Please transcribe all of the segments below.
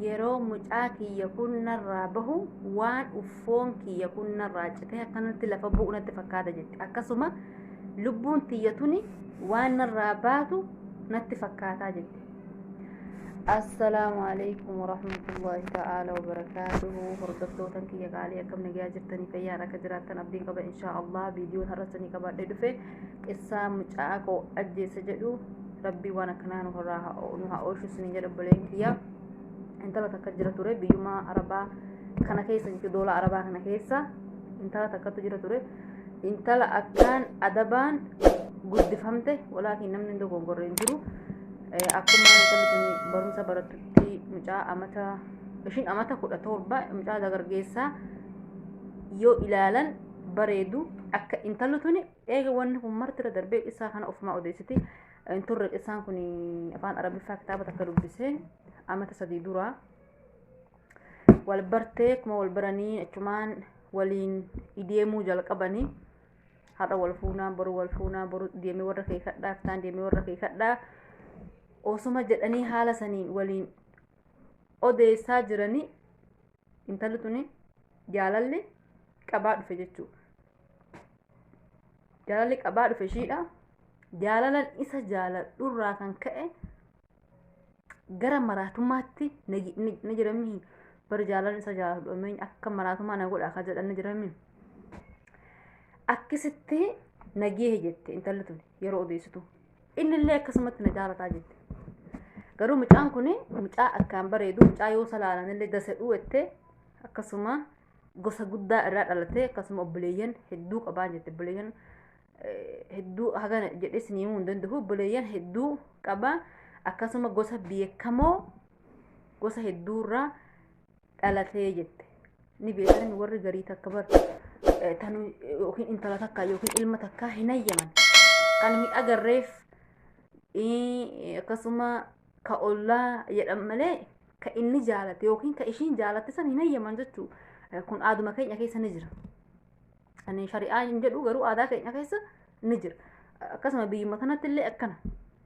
yeroo mucaa kiyya kun narraa bahu waan uffoon kiyya kun narraa citee akkanatti lafa bu'u natti fakkaata jette akkasuma lubbuun tiyya tuni waan narraa baatu natti fakkaataa jette assalaamu alaikum warahmatullaahi ta'aalaa wabarakaatuhu hordoftootan kiyya qaalii akkam nagaa jirtanii fayyaan akka jiraattan abdiin qaba inshaa allah viidiyoon har'asanii qabaadhee dhufe qissaa mucaa koo ajjeessa jedhu rabbii waan akkanaa nu irraa haa oo- nu haa oolchu isin jedha obboleen kiyya intala takka jira ture biyyuma arabaa kana keessa jechuudha doola arabaa kana keessa intala takkatu jira ture intala akkaan adabaan guddifamte walaakin namni hin dogoggorre hin jiru Eh, akkuma intalli tuni barumsa barattutti mucaa amata ishiin amata kudha torba mucaa dagargeessaa yoo ilaalan bareedu akka intalli tuni Eega wanni kun marti irra darbee qissaa kana ofumaa odeessiti. Hin turre qissaan kun afaan Arabiffaa kitaaba takka dubbisee amata sadii dura wal bartee akkuma wal baranii achumaan waliin ideemuu jalqabanii har'a wal fuunaa boru wal fuunaa boru deemee warra kee kadhaa fitaan deemee warra kee kadhaa osuma jedhanii haala saniin waliin odeessaa jiranii intalli tuni jaalalli qabaa dhufe jechuudha. jaalalli qabaa dhufe ishiidha jaalalan isa jaaladhurraa kan ka'e gara maraatummaatti na ji- ni ni jirami bar jaalalan isa jaaladhu ameen akka maraatummaa na godha akka jedhan ni jirami akkasitti nageehe jette intalli tun yeroo odeessitu innillee akkasumatti na jaalataa jette garuu mucaan kun mucaa akkaan bareedu mucaa yoo salaalanillee dasa dhuwette akkasuma gosa guddaa irraa dhalatee akkasuma obboleeyyan hedduu qabaan jette obboleeyyan hedduu hagana jedhee isin himuu hin danda'u obboleeyyan hedduu qaba akkasuma gosa beekamoo gosa hedduurraa dhalatee jette ni beekan warri garii takka bar tanu yookiin intala takka yookiin ilma takka hin hayyaman kan hin agarreef akkasuma ka ollaa jedhan malee ka inni jaalate yookiin ka ishiin jaalatte san hin hayyaman jechuu kun aaduma keenya keessa ni jira ani shari'aa hin jedhu garuu aadaa keenya keessa ni jira akkasuma biyyuma tanatti illee akkana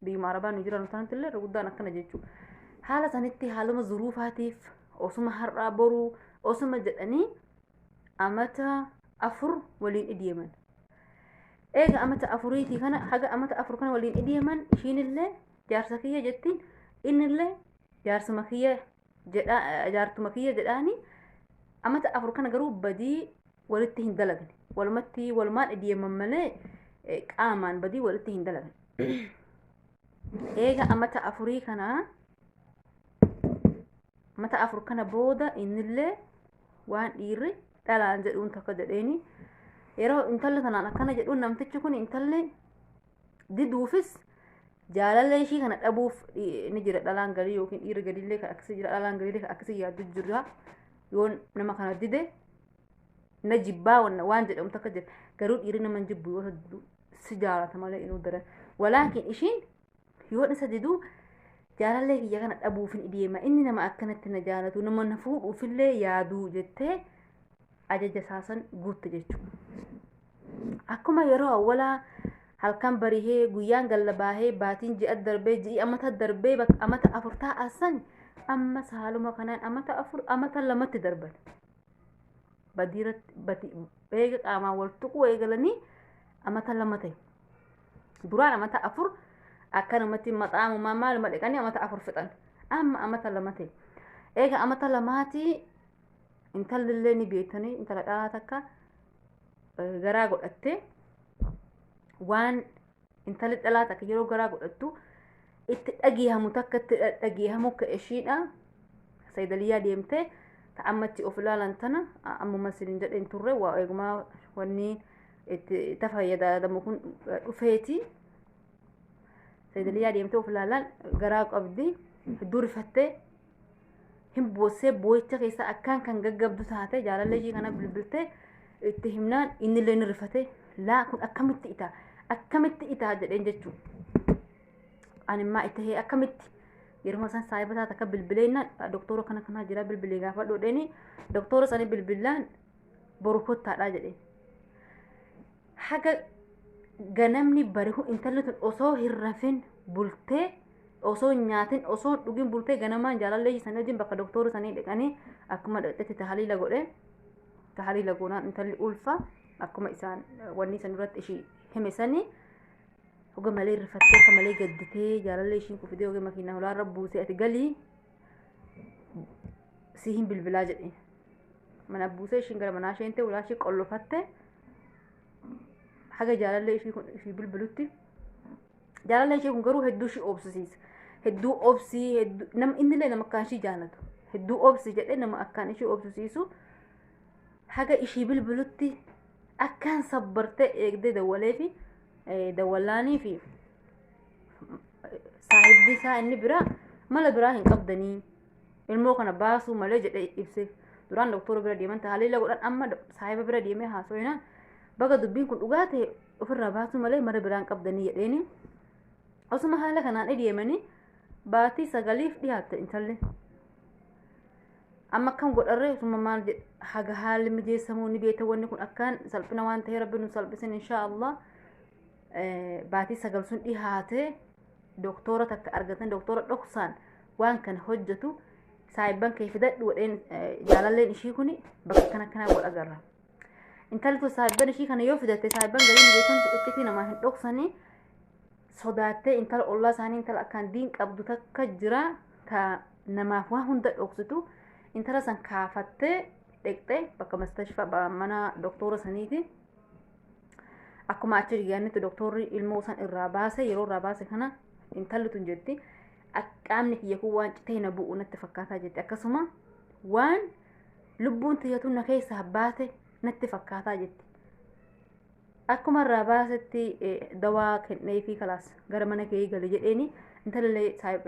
biyyuma arabaa nu jiran tanatti illee irra guddaan akkana jechuu haala sanitti haaluma zuruufaatiif osuma har'aa boruu osuma jedhanii amata afur waliin iddeeman eega amata afuriitii kana haga amata afur kana waliin iddeeman ishiinillee jaarsa kiyya jettiin innillee jaarsuma kiyya jedha jaartuma kiyya jedhaani amata afur kana garuu badii walitti hin dalagne walumatti walumaan dhiyeemman malee eh, qaamaan badii walitti hin dalagne eega amata afurii kana amata afur kana booda innillee waan dhiirri dhalaan jedhuun tokko jedheeni yeroo intalli tanaan akkana jedhuun namtichi kun intalli diduufis jaalala ishii kana dhabuuf eh, ni jira dhalaan garii yookiin dhiirri gadiillee kan akkasii jira dhalaan gadiillee kan akkasii yaaddu jira yoo nama kana dide na jibbaa wan- waan jedhamu takka jira garuu dhiirri nama hin jibbu yoo isa didu si jaalata malee inuu daran walaakin ishiin yoo isa diduu jaalallee kiyya kana dhabuufin ideema inni nama akkanatti na jaalatu nama na fuudhuufillee yaaduu jettee ajaja isaasan guutte jechuudha. Akkuma yeroo awwalaa halkan barihee guyyaan galla baahee baatiin ji'a darbee ji'i amata darbee bakka amata afur taa'an san amma saaluma kanaan amata afur amata lamatti darban. Badiiratti badi eega qaamaan wal tuquu eegalanii amata lama ta'e. Duraan amata afur akkanumatti maxaamumaa maaluma dhiqanii amata afur fixan. Amma amata lama ta'e. Eega amata lamaatii intalli illee ni beektanii intala dhalaa takka garaa godhattee waan intalli dhalaa takka yeroo garaa godhattu itti dhageehamu takka itti dhageehamu ka ishiidha saydaliyaa deemtee ta ammatti of ilaalan tana ammuma isin jedhe hin turre waa eegumaa wanni itti ta fayyadamu kun dhufeeti saydaliyaa deemtee of ilaalan garaa qabdi hedduu rifattee hin boossee boo'icha keessa akkaan kan gaggabdu taate jaalallee ishii kana bilbiltee itti himnaan innillee ni rifate laa kun akkamitti ita akkamitti ita jedheen jechuu animmaa itti hee akkamitti yeruma san saahiba taate akka bilbileennaan doktoora kana kanaa jira bilbilee gaafa dhodheeni doktoora sani bilbilaan boru kottaadhaa jedheen haga ganamni barihu intalli tun osoo hin rafin bultee osoo hin nyaatin osoo hin dhugin bultee ganamaan jaalallee ishii sanii wajjin bakka doktoora sanii dhaqanii akkuma dhaqxetti tahaliila godhe tahaliila goonaan intalli ulfa akkuma isaan wanni san irratti ishii hime sanii hoga malee rifattee akka malee gadditee jaalallee ishiin kufitee hoga makiinaa holaarra buusee ati galii si hin bilbilaa jedhe mana buusee ishiin gara manaa isheen ta'e ulaa ishii qollofatte haga jaalallee ishii kun ishii bilbilutti Jaalala ishee kun garuu hedduu ishee obsisiisa. Hedduu obsii hedduu nama innillee nama akkaan ishee jaalatu. Hedduu obsi jedhee nama akkaan ishee obsisiisu haga ishee bilbilutti akkaan sabbartee eegdee dawwalee fi dawwallaanii fi saahibbi isaa inni biraa mala biraa hin qabdanii ilmoo kana baasuu malee jedhee ibseef. Duraan doktora bira deeman tajaajila godhan amma saahiba bira deemee haasawinaan baga dubbiin kun dhugaa ta'e ofirraa baasuu malee mara biraan qabdanii jedheeni osuma haala kanaan deemanii baatii sagaliif dhiyaatte intalli amma akkam godharree osuma maal jedhe haga haalli mijeessamuu ni beekta wanni kun akkaan salphina waan ta'ee rabbi nu salphisin inshaa allah baatii sagal sun dhihaatee doktoora takka argatan doktoora dhoksaan waan kana hojjetu saayibban kee fidadhu wadheen jaalalleen ishii kun bakka akkana akkanaa godha garra. intaltu saahibban ishii kana yoo fidatte saahibban galiin beekan iccitii namaa hin dhoksanii sodaattee intala ollaa isaanii intala akkaan diin qabdu takka jira ta namaaf waa hunda dhoksitu intala san kaafattee dhaqxee bakka mustashfa mana doktoora saniiti akkuma achi dhiyaannetti doktoorri ilmoo san irraa baase yeroo irraa baase kana intalli tun jetti qaamni kiyya kun waan citee na bu'u natti fakkaataa jetti akkasuma waan lubbuun tiyyatu na keessaa baate natti fakkaataa jetti. Akkuma irraa baasetti dawaa kennee fi kalaas gara mana kee gale jedheeni intalallee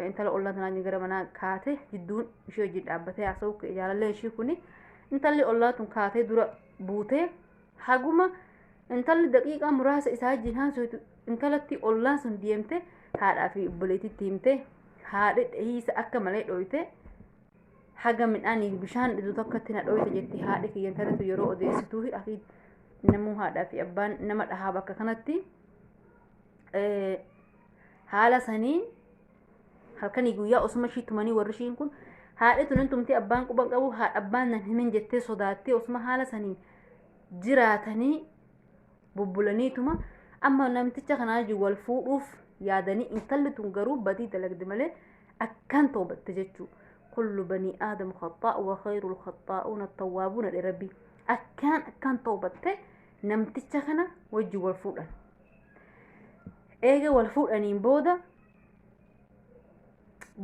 intala ollaan tanaan gara manaa kaate jidduun ishee hojii dhaabbatee haasa'u jaalallee ishii kuni intalli ollaa tun kaatee dura buutee haguma intalli daqiiqaa muraasa isaa wajjin haasoftu intalatti ollaan sun deemte haadhaa fi obboleettiitti himte haadhi dhihiisa akka malee dhooyte haga midhaaniif bishaan dhidu takkatti na dhooyte jetti haadhi kiyya intalatu yeroo odeessituu hidhafi namuu haadhaa fi abbaan nama dhahaa bakka kanatti eh, haala saniin halkanii guyyaa osuma ishii tumanii warri ishiin kun haadhi tunin tumtee abbaan quban qabu haadha abbaan nan himin jettee sodaattee osuma haala saniin jiraatanii bubbulaniituma amma namticha kanaa wajjin wal fuudhuuf yaadanii intalli tun garuu badii dalagde malee akkaan toobatte jechuu kullu banii aadam khaxaa wa khayrul khaxaa'uuna tawwaabuuna dhe rabbii akkaan akkaan toobatte namticha kana wajjin wal fuudhan eega wal fuudhaniin booda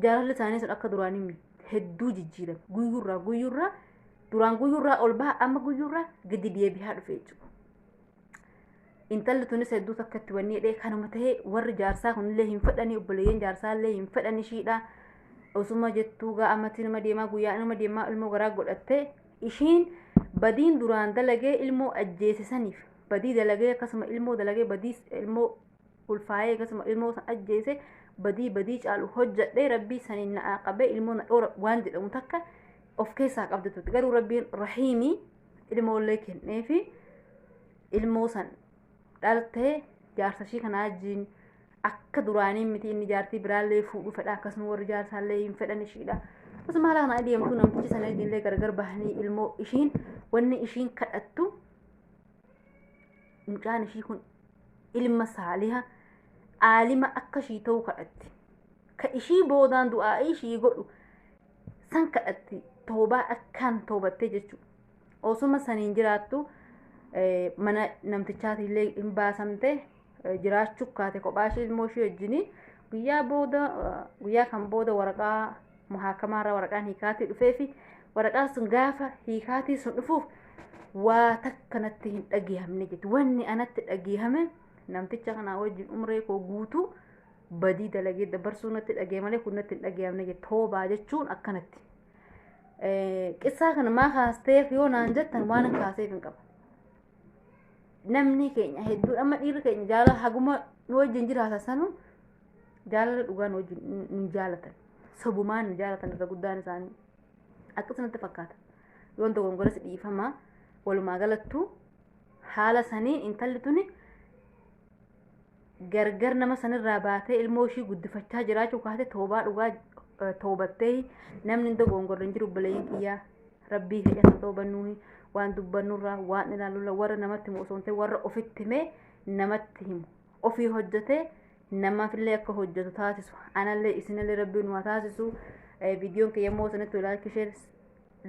jaalalli isaanii sun akka duraanii miti. hedduu jijjiirame guyyurraa guyyurraa duraan guyyurraa ol baha amma guyyurraa gadi deebi'aa dhufe jechuudha. Intalli tunis hedduu takka itti wanni jedhee kanuma ta'ee warri jaarsaa kunillee hin fedhanii obboleeyyan jaarsaa illee hin fedhan ishiidha. Osuma jettuu gaa amatti nama deemaa guyyaa nama deemaa ilmoo garaa godhattee ishiin badiin duraan dalagee ilmoo ajjeesisaniif badii dalagee akkasuma ilmoo dalagee badii ilmoo ulfaa'ee akkasuma ilmoo san ajjeese badii badii caalu hojjedhe rabbii saniin na qabe ilmoo na dhoora waan jedhamu takka of keessaa qabdi turte garuu rabbiin rahiimii ilmoollee kenneefi ilmoo san dhaltee jaarsa ishii kanaa wajjiin akka duraanii miti inni jaartii biraallee fuudhu fedha akkasuma warri jaarsaallee hin fedhan ishiidha akkasuma haala kana adeemtu namtichi sana illee gargar bahanii ilmoo ishiin wanni ishiin kadhattu mucaan ishii kun ilma saaliha aalima akka ishii ta'u kadhatte ka ishii boodaan du'aa ishii godhu san kadhatte toobaa akkaan toobattee jechuudha osuma saniin jiraattu eh, mana namtichaati illee hin baasamte eh, jiraachuu kaate kophaa ishee ilmoo ishee wajjinii guyyaa booda eh, guyyaa kan booda waraqaa muhaakamaarraa waraqaan hiikaatii dhufee fi waraqaan sun gaafa hiikaatii sun dhufuuf waa takka natti hin dhageehamne jetti wanni anatti dhageehame namticha kanaa wajjin umree koo guutuu badii dalagee dabarsuu natti dhagee malee kun natti hin dhageehamne jetti toobaa jechuun akkanatti qissaa kana maa kaasteef yoo naan jettan waan hin kaaseef hin qabu namni keenya hedduun amma dhiirri keenya jaalala haguma nu wajjin jiraata sanuu jaalala dhugaan wajjin hin- hin jaalatan sobumaan hin jaalatan irra guddaan isaanii akkasumatti fakkaata yoon dogongoras dhiifama walumaa galattu haala sanii intalli tuni gargar nama sanirraa baatee ilmoo ishii guddifachaa jiraachuu kaatee toobaa dhugaa eh, toobattee namni hin dogongorre hin jiru obboleeyyiin kiyyaa rabbii keenya kan toobannuuhi waan dubbannurraa waan ilaalurraa warra namatti himu osoo hin ta'in warra ofitti himee namatti himu ofii hojjatee namaafillee akka hojjatu taasisu anallee isinillee rabbiin nu haa taasisu Eh, viidiyoon kiyya immoo isinitti laayikii sheer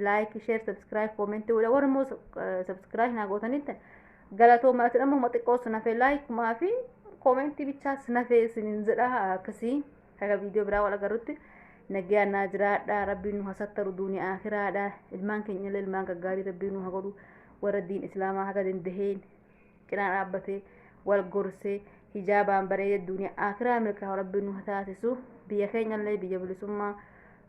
laayikii sheer sabskiraayib koomentii godha warra immoo sabskiraayib naa gootanitti galatoomaa isin amma huma xiqqoo sinafee laayikumaa fi koomentii bichaa sinafee isinin jedha akkasii kaga viidiyoo biraa wal agarrutti nagaa naa jiraadha rabbiin nu hasattaru duuniyaa akiraadha ilmaan keenyallee ilmaan gaggaarii rabbiin nu haa godhu warra diin islaamaa haga dandaheen cinaa dhaabbatee wal gorsee hijaabaan bareedee duuniyaa akiraa milkaa'u rabbiin nu taasisu biyya keenyallee biyya bilisummaa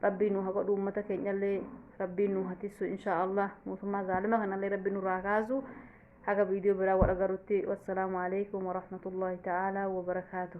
rabbiin nu hagodhu uummata keenyallee rabbiin nu hatisu inshaa allah mootummaa zaalima kanallee rabbiin nurraa kaasu haga viidiyoo biraa wal agarutti wassalaamu alaikum warahmatullaahi ta'aalaa wabarakaatu